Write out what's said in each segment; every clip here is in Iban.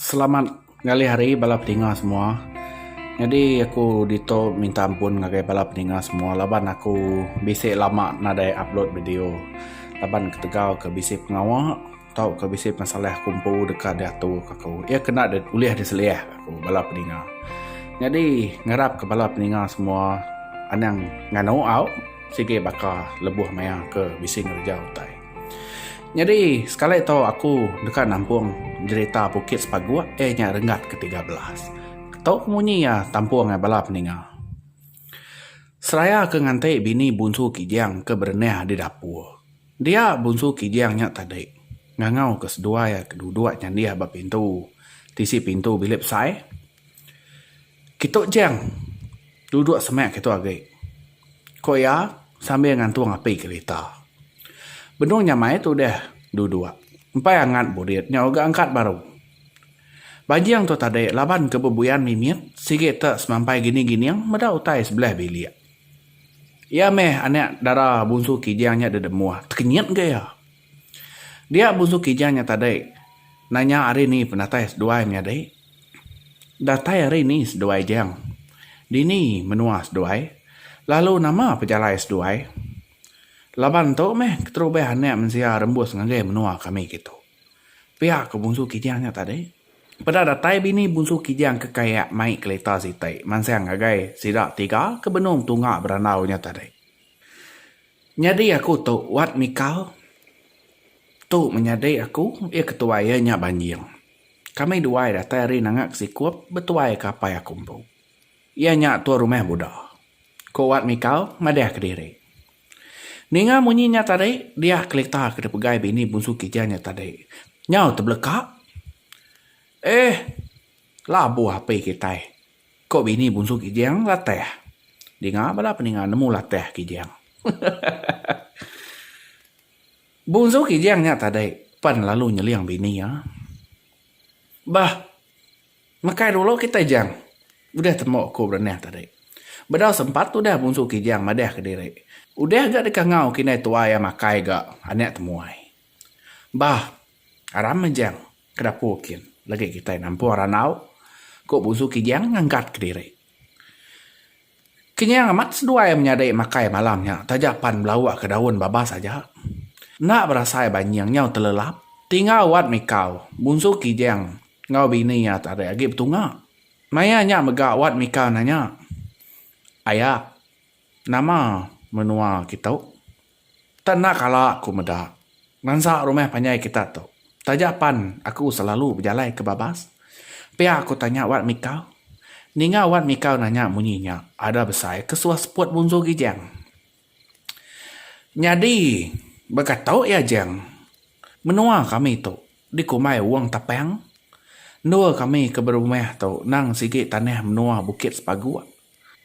Selamat ngalih hari bala pedinga semua. Nyadi aku ditu minta ampun ngagai bala pedinga semua laban aku bisi lama nadai upload video laban ketegal ke bisi pengawa. Tauka bisi pengesalah ku empu deka diaturka aku. Iya kena di ulih diselihka ku bala peninga. Nyadi ngarapka bala peninga semua anang nganu au sigi baka lebuh maya ke bisi ngereja utai. Nyadi sekali tu aku deka nampung jerita Bukit Sepaguk iya nya renggat ke tiga belas. Tu ku munyi iya tampung ai bala peninga. Seraya ke nganti bini bunsu Kijang ke berenih di dapur. Dia Bunsu Kijang nya tadi ngangau ke seduai ke duduk nyandih ba pintu tisi pintu bilik besai. Kitu Jang, duduk semak kitu agi, ku iya sambil ngantung api kerita. Benung nyamai tu deh duduk. Empai angat burit nya uga angkat baru. Banjing tu tadi laban ke bebuyan mimit sigi te semampai gining-gining meda utai sebelah bilik. Iya meh anak dara bunsu Kijang nya deh demuh. Tekenyit ga iya. Dia bunsu Kijang nya tadi nanya ari ni penatai seduai menyadi. Datai ari ni seduai Jang? Dini menua seduai? Lalu nama pejalai seduai? Laban tu meh keterubah anak mensia rembus ngagai menua kami kitu. Pia ko Bunsu Kijang nya tadi. Peda datai bini Bunsu Kijang ke Kayak mai kelita siti mansang ngagai sida tiga ke benung tunga berandau nya tadi. Nyadi aku tu Wat Mikal. Tu menyadi aku iya ke tuai iya nya Banjing. Kami duai datai ari Nanga ke Sikup betuai ke apai aku empu. Iya nya tua rumah Buda, ko Wat Mikal madahka diri. Ninga munyi nya tadi, diah kelita ke dipegai bini Bunsu Kija nya tadi nyau tebeleka. Eh, labuh api kitai, ko bini Bunsu Kijang Latah. Dinga bala peninga nemu Latah Kijang. Bunsu Kijang nya tadi pen lalu nyeling bini iya. Bah! Mekai dulu kitai Jang. Udah tembu aku berenang tadi. Bedau sempat udah Bungsu Kijang madah ke diri. Udah ga deka ngau ke indai tuai iya makai ga anak temuai. Bah, aram meh Jang, ke dapur kin legi kitai nampung ranau, ku Bungsu Kijang ngangkat ke diri. Kenyang amat seduai menyadi makai malam nya taja pan belawa ke daun babas aja. Enda berasai banjing nyau telelap. Tinggal wat mikau, Bunsu Kijang enggau bini iya tadi agi betunga. Maya nya mega wat mikau nanya, Aya, nama menua kitu? Tang enda kala aku meda ngansa rumah panjai kita tu. Taja pan aku selalu bejalai ke Babas, pia aku tanya Wat Mika. Ninga Wat Mika nanya munyi nya, ada besai ke suah seput munzu Gijang. Nyadi baka tu iya Jang, menua kami tu dikumbai Wong Tapang. Endur kami ke berumah tu nang sigi tanah menua Bukit Sepaguk.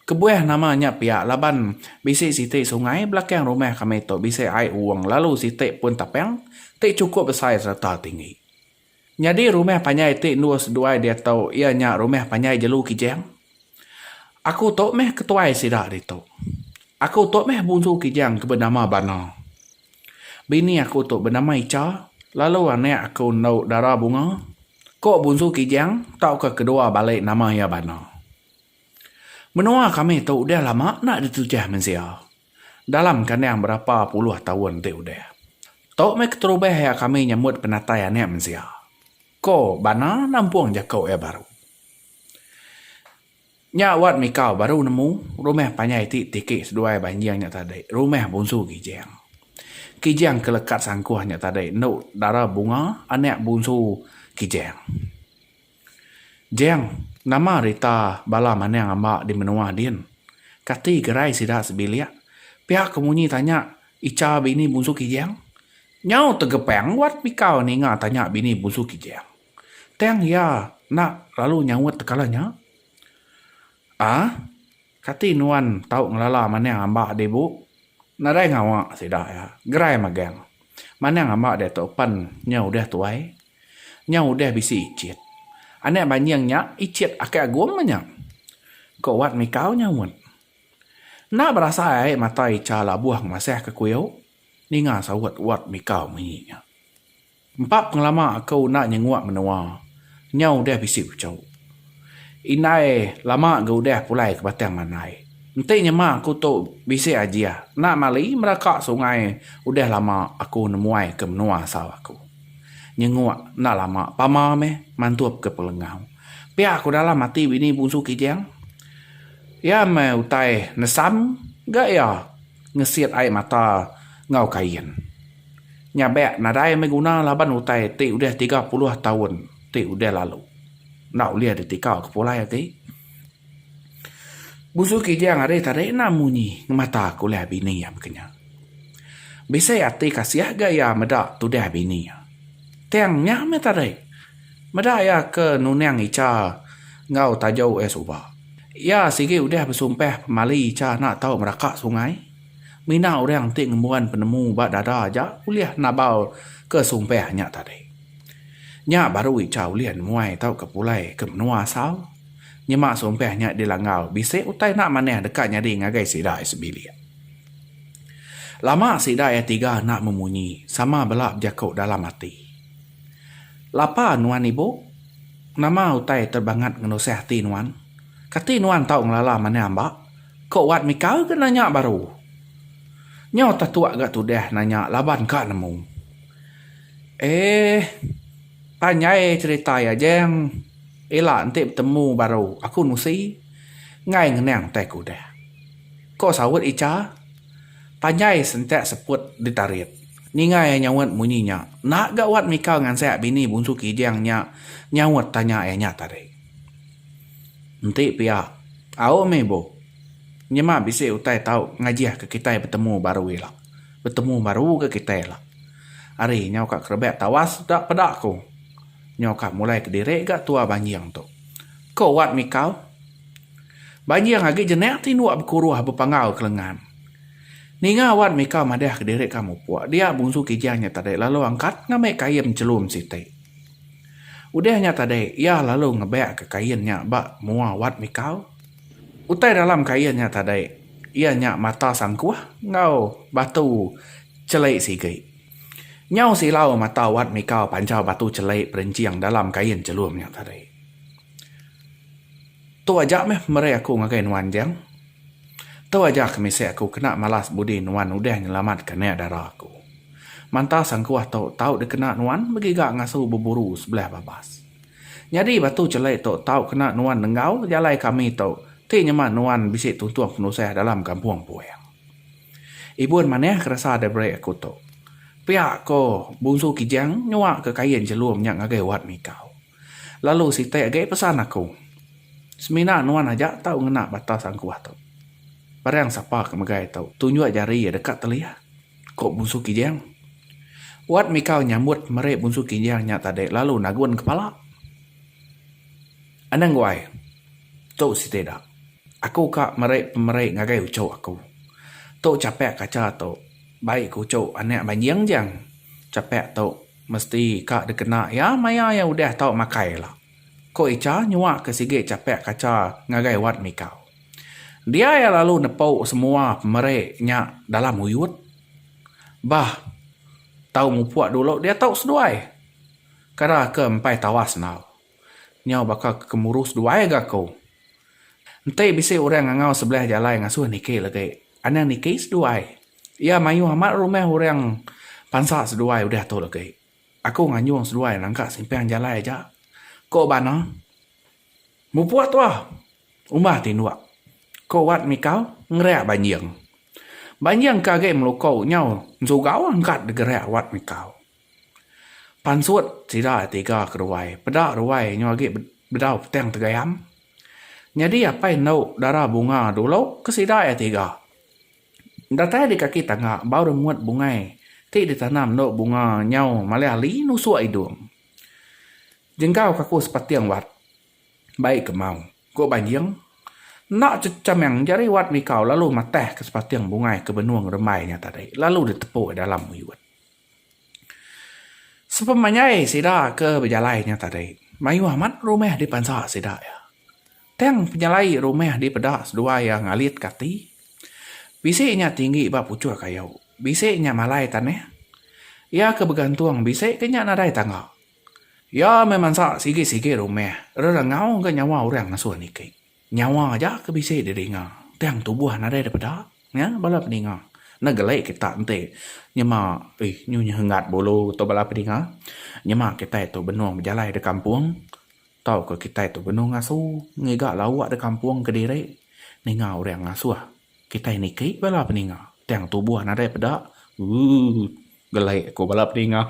Kebuah nama nya pia laban bisi siti sungai belakang rumah kami tu bisi ai uung lalu siti pun tapang ti chukup besai sereta tinggi. Nyadi rumah panjai ti endur seduai diatu iya nya rumah panjai jelu Kijang. Aku tu meh ketuai sida ditu. Aku tu meh bungsu Kijang ke benama Bana. Bini aku tu benama Icha lalu anak aku endu Dara Bunga. Ko bungsu Kijang tauka kedua bali nama iya Bana. Menua kami tu udah lama enda ditujah mensia dalam kandang berapa puluh taun ti udah. Tu meh keterubah iya kami nyambut penatai anak mensia, ko Bana nampung jaku iya baru. Nya Wat Mikau baru nemu rumah panjai ti tiki seduai banjing nya tadi, rumah Bungsu Kijang. Kijang ke lekat sangkuh nya tadi endu dara Bunga anak Bungsu Kijang. Jang, nama rita bala manang amba di menua din? Kati gerai sida sebilik? Pia ke munyi tanya Icha bini Bunsu Kijang. Nyau tegepang Wat Mikau ninga tanya bini Bunsu Kijang. Tang iya enda lalu nyaut tekala nya. Aa. Kati nuan tau ngelala Manang Amba di bu? Nadai ngawa sida iya. Gerai magang. Manang Amba diatu pen nya udah tuai. Nya udah bisi icit. Anak banjing nya icit Aki Agong mah nya. Ko Wat Mika nyaut. Enda berasa ai mata Icha labuh ngemasah ke kuiu ninga saut Wat Mika munyi nya. Empa pengelama aku enda nyenguk menua. Nyau udah bisi puchok. Indai lama ga udah pulai ke Batang Mandai. Enti nyema aku tu bisi ajih enda mali meraka sungai udah lama aku nemuai ke menua asal aku. Nyenguk enda lama pama meh mantup ke Pelengau. Pia aku dalam ati bini bungsu Kijang. Iya meh utai nesam ga iya. ngesit ai mata enggau kain. Nyabek nadai meh guna laban utai ti udah tiga puluh taun ti udah lalu enda ulih ditika ke pulai agi. Busu Kijang ari tadi enda munyi ngemata ke ulah bini iya baka nya. Bisi ati kasih ga iya meda tudah bini iya. Tang nya meh tadi. Meda iya ke nunang Icha enggau Tajo uih suba. Iya sigi udah besumpah pemali Icha enda tau meraka sungai. Mina orang enti ngembuan penemu ba dada aja ulih nabal ke sumpah nya tadi. Nya baru Icha ulih nemuai tauka pulai ke menua asal. Nyema sumpah nya dilanggau bisi utai enda manah deka nyadi ngagai sida ai sebilik. Lama sida ai tiga enda memunyi sama bela bejaku dalam ati. Lapa nuan ibu? Nama utai te bangat ngenusah ati nuan? Kati nuan tau ngelala manah amba? Ko Wat Mikau ke nanya baru. Nyau tetuk ga tudah nanya laban ka nemu. Eeh. Panjai cerita iya Jang. Ila enti betemu baru aku nusi enggai ngenang utai ke udah. Ko saut Icha. Panjai sentak seput ditarit. Ninga iya nyaut munyi nya, enda ga wat mikau ngansak bini bunsu Kijang nya nyaut tanya iya nya tadi. Enti pia, au meh ibu. Nyema bisi utai tau ngajihka kitai betemu baru ila. Betemu baru ga kitai ila. Ari nyau ka kerebak tawas da peda ku. Nyau ka mulai kediri ga tua banjing tu. Ko wat mikau. Banjing agi jenak tinduk bekuruh bepangau ke lengan. Ninga awan Mika madah ke diri ka mupuk dia Bungsu Kijang nya tadi lalu angkat ngambi kain chelum siti. Udah nya tadi iya lalu ngebak ke kain nya ba mua wat Mika. Utai dalam kain nya tadi iya nya mata sangkuh enggau batu cheli sigi. Nyau silau mata wat Mika pancha batu cheli perenching dalam kain chelum nya tadi. Tu aja meh meri aku ngagai nuan enjing. Tu aja ke misi aku kena malas budi nuan udah nyelamatka nya dara aku. Manta sangkuh tu tau dikena nuan begiga ngasu beburu sebelah babas. Nyadi batu cheli tu tau kena nuan nenggau jalai kami tu ti nyema nuan bisi tuntung penusah dalam kampung Puing. Ibun manah ke resa diberi aku tu. Pia ko Bungsu Kijang nyuaka kain chelum nya ngagai Wat Mikau. Lalu siti agi pesan aku, Semina nuan aja tau ngena batas angkuh tu. Parang sapa ke megai tu tunjuk jari iya deka telih, ku Bungsu Kijang. Wat Mikau nyambut meri Bungsu Kijang nya tadi lalu nagun kepala. Anang guai, tu siti da. Aku ka meri pemeri ngagai uchu aku. Tu chapak kacha tu bai ku uchu anak banjing jang. Chapak tu. Mesti ka dikena iya maya iya udah tau makai ila, ku Icha nyuak ke sigi chapek kacha ngagai Wat Mikau. Dia iya lalu nepu semua pemeri nya dalam uyut. Bah, tau mupuk dulu dia tau seduai. Kera ke empai tawas enggau. Nyau baka ke kemuru seduai ga aku. Enti bisi orang ngangau sebelah jalai ngasuh niki legi, anang niki seduai. Iya mayuh amat rumah orang pansa seduai udah tu legi. Aku nganjung seduai nangka simpang jalai aja. Ko ba no. Mupuk tuah. Umbah tinduk. Ko wat mikau ngereak banjing. Banjing ke agi meluko nyau ensugau angkat degereak wat mikau. Pansut sida tiga ke ruai peda ruai nyau agi bedau petang tegayam. Nyadi apai endo dara bunga dulu ke sida iya tiga. Datai di kaki tangga bau remut bungai ti ditanam endo bunga nyau malih ali nusuk idung. Jenggau ke aku sepating wat bai kemau ku banjing enda chechameng jari wat mikau lalu matahka sepating bungai ke benung rembai nya tadi lalu ditepu dalam uyut. Sepemanjai sida ke bejalai nya tadi, mayuh amat rumah dipansa sida iya. Tang penyelai rumah dipeda seduai iya ngalitka ati. Bisi nya tinggi ba puchur kayu, bisi nya malai tanah. Iya ke begantung bisi ke nya nadai tangga. Iya meh mansa sigi-sigi rumah rerengau ga nyawa orang ngesun iti. Nyawa aja ke bisi didinga. Tang tubuh nadai da peda. Nya bala peninga. Enda geli kita enti nyema ih nyu nyenggat bulu tu bala peninga. Nyema kitai tu benung bejalai da kampung tauka kitai tu benung ngasu ngiga lauk da kampung kediri ninga orang ngasuh kitai niki bala peninga. Tang tubuh nadai peda. Ooh. Gelai aku bala pedinga.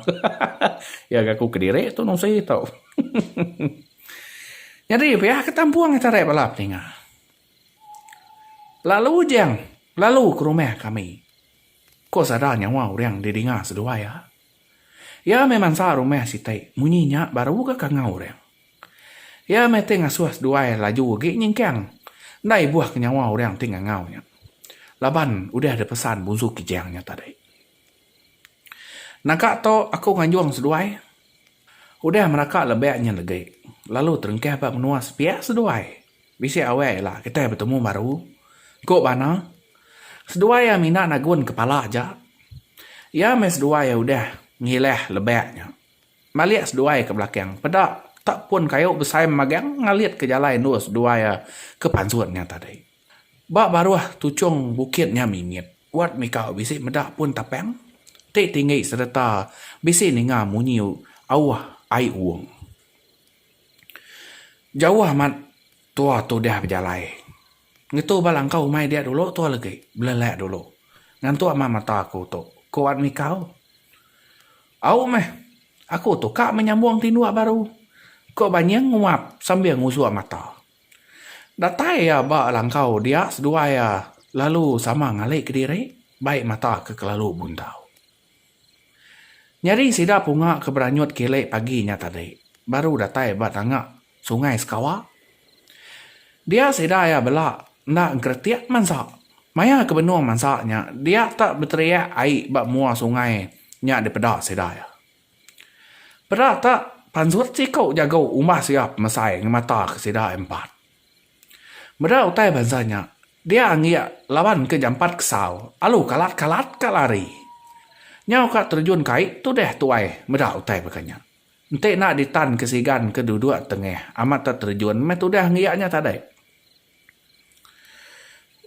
Iya ga aku kediri tu nusi tu. Nyadi pia ke tampung tarai bala pedinga. Lalu ujang lalu ke rumah kami. Ko sada nyawa urang di dinga seduai iya. Iya meh mansa rumah siti munyi nya baru ga kangau urang. Iya meh ti ngasuh seduai laju agi nyingkang enda ibuh ke nyawa urang ti ngangau nya. Laban udah dipesan Bunsu Kijang nya tadi. Naga tu aku nganjung seduai. Udah meraka lebak nya legi lalu terengkah ba menua sepiak seduai. Bisi awai ila kitai betemu baru, ku Bana. Seduai iya mina nagun kepala aja. Iya meh seduai iya udah ngilah lebak nya. Malik seduai ke belakang peda tak pun kayu besai magang ngalitka jalai endur seduai iya ke pansut nya tadi. Ba baruh tuchung bukit nya mimit Wat Mika bisi meda pun tapang ti tinggi sereta bisi ninga munyi auh ai uung. Jauh amat tua tu deh bejalai. Ngetu ba langkau umai dia dulu tua legi, belelak dulu. Ngantuk mah mata aku tu, ku Wat Mika. Au meh, aku tu ka menyambung tinduk baru, ku Banying nguap sambil ngusuk mata. Datai iya ba langkau dia seduai iya lalu sama ngali kediri bai mata ke kelalu buntau. Nyadi sida punga ke beranyut kili pagi nya tadi baru datai ba tanga Sungai Sekawa. Dia sida iya bela enda engkeretik mansa. Maya ke benung mansa nya dia tak beteriak ai ba mua sungai nya dipeda sida iya. Peda ta pansut siku jago umbah siap mesai ngemata ke sida empat. Meda utai bansa nya dia anggik laban ke jampat kesau alu kalat kalat ka lari. Nyau ka terjun kai tudah tuai meda utai baka nya. Enti enda ditan ke sigan ke duduk tengah amat ta terjun meh tudah anggik nya tadi.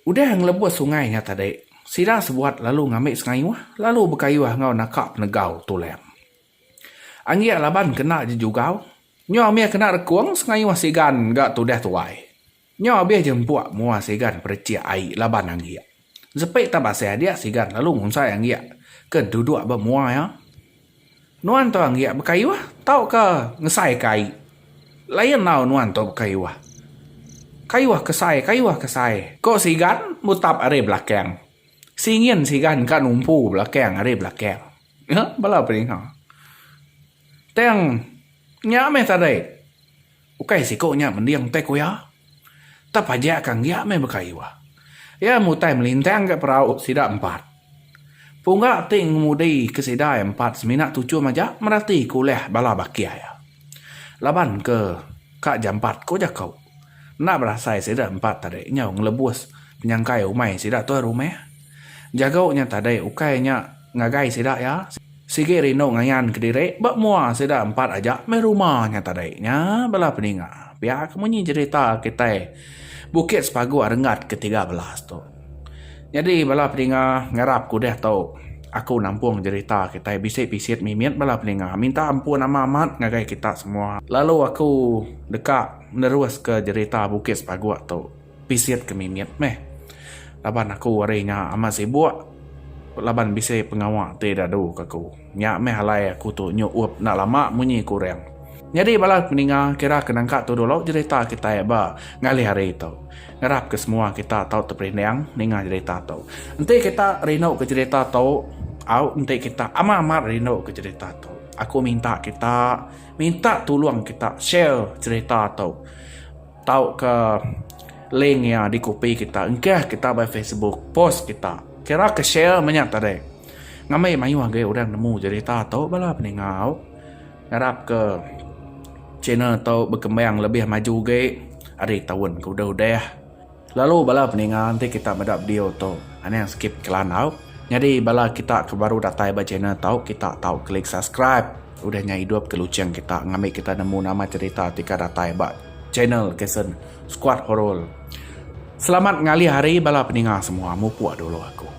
Udah ngelebus sungai nya tadi, sida sebuat lalu ngambi sengayuh lalu bekayuh enggau naka penegau tulam. Anggik laban kena jejugau, nyau mih kena rekung sengayuh sigan ga tudah tuai. Nyau abih je empuk mua sigan perechik ai laban anggik. Sepi tah basih adik sigan lalu ngunsai anggik ke duduk ba mua iya. Nuan tu anggik bekayuh tauka ngesaika ai. Lain enggau nuan tu bekayuh. Kayuh ke sai, kayuh ke sai, ko sigan mutap ari belakang. Singin sigan ka numpu belakang ari belakang. Bala peninga. Tang nya meh tadi. Ukai siku nya mending teh ku iya. Tapajak ka enggia meh baka iwa. Iya mutai melintang ka perau sida empat. Pungga ti ngemudi ke sida empat semina tuchu maja merati ke ulah bala baki iya. Laban ke ka jampat ko jako. Enda berasai sida empat tadi nyau ngelebus penyangkai umai sida tuai rumah. Jago nya tadi ukai nya ngagai sida iya. Sigi rindu ngayan kediri ba mua sida empat aja meh rumah nya tadi. Nya bala peninga pia ke munyi jerita kitai Bukit Sepagu Arenggat ke tiga belas tu. Nyadi bala peninga ngarap ke udah tu aku nampung jerita kitai bisi pisit mimit bala peninga minta ampun amat amat ngagai kita semua lalu aku deka neruska jerita Bukit Sepagu tu. Pisit ke mimit meh. Laban aku hari nya amat sibuk laban bisi pengawa ti dadu ke aku. Nya meh alai aku tu nyuup enda lama munyi ke orang. Nyadi bala peninga kira ke nangka tu dulu jerita kitai ba ngalih hari tu. Ngarap ke semua kita tau teperinding ninga jerita tu. Enti kita rindu ke jerita tu au enti kita amat-amat rindu ke jerita tu. Aku minta kita minta tulung kita share jerita tu. Tauka link iya dikopi kita engkah kita ba facebook post kita. Kira ke share meh nya tadi. Ngambi mayuh agi orang nemu cherita tu bala peningau. Ngarap ke channel tu berkembang lebih maju agi ari taun ke udah udah. Lalu bala peningau enti kita meda video tu anang sikit ke landau nyadi bala kita ke baru datai ba channel tu kita tau klik subscribe. Udah nya idup ke lucheng kita ngambi kita nemu nama cerita ti ka datai ba channel Kasen Squad Horror. Selamat ngalih hari bala peninga semua mupuk dulu aku.